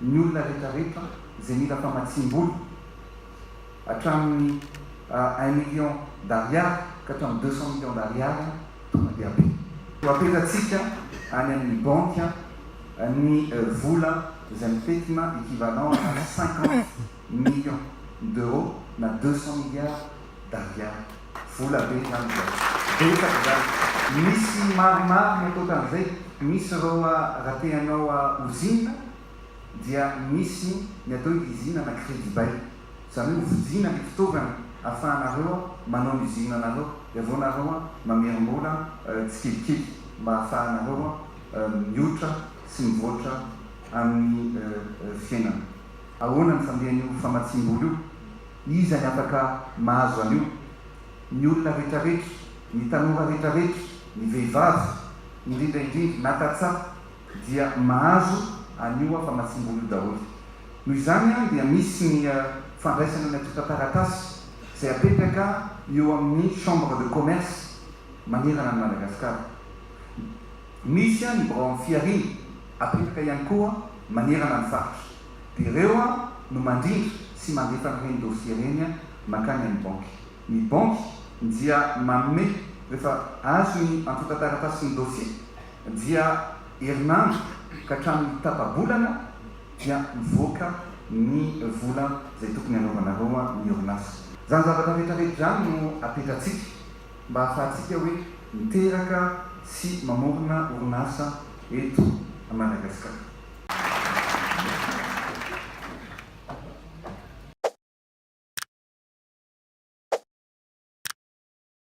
ny olona rehetra rehetra izay mila famatsiam-bola. hatramin'ny un million d'ariary ka hatramin'ny deux cent millions d'ariary, tonga dia be. Koa apetratsika any amin'ny banky ny vola izay mifetina equivalent ana cinquante millions d'euros na deux cent milliards d'ariary. Vola be izany izao. Betsaka izany. Misy maromaro mihoakoatran'izay. Misy ireo raha te hanao usine dia misy ny atao hoe izina na crédit bail, izany hoe hovidiana ny fitaovana ahafahanareo manao ny usinenareo, dia avy eo nareo mamerim-bola tsikelikely mba ahafahanareo mioitra sy mivoatra amin'ny fiainana. Ahoana ny fandehan'io famatsiam-bola io? Iza ny afaka mahazo an'io? Ny olona rehetrarehetra, ny tanora rehetrarehetra, ny vehivavy indrindra indrindra na tantsaha dia mahazo an'io aho fa mahatsimbolo io daholo. Noho izany dia misy ny fandraisana ny antontan-taratasy izay apetraka eo amin'ny Chambre de Commerce manerana an'i Madagasikara. Misy ny birao amin'ny Fihariana apetraka ihany koa manerana ny faritra. Dia ireo no mandrindra sy mandefa an'ireny dossier ireny mankany amin'ny banky. Ny banky dia manome, rehefa azo ny antontan-taratasin'ny dossier, Dia herinandro ka hatramin'ny tapa-bolana dia mivoaka ny vola izay tokony hanaovanareo ny orinasa. Izany zavatra rehetra rehetra izany no apetratsika mba hahafahantsika hoe miteraka sy mamorona orinasa eto Madagasikara.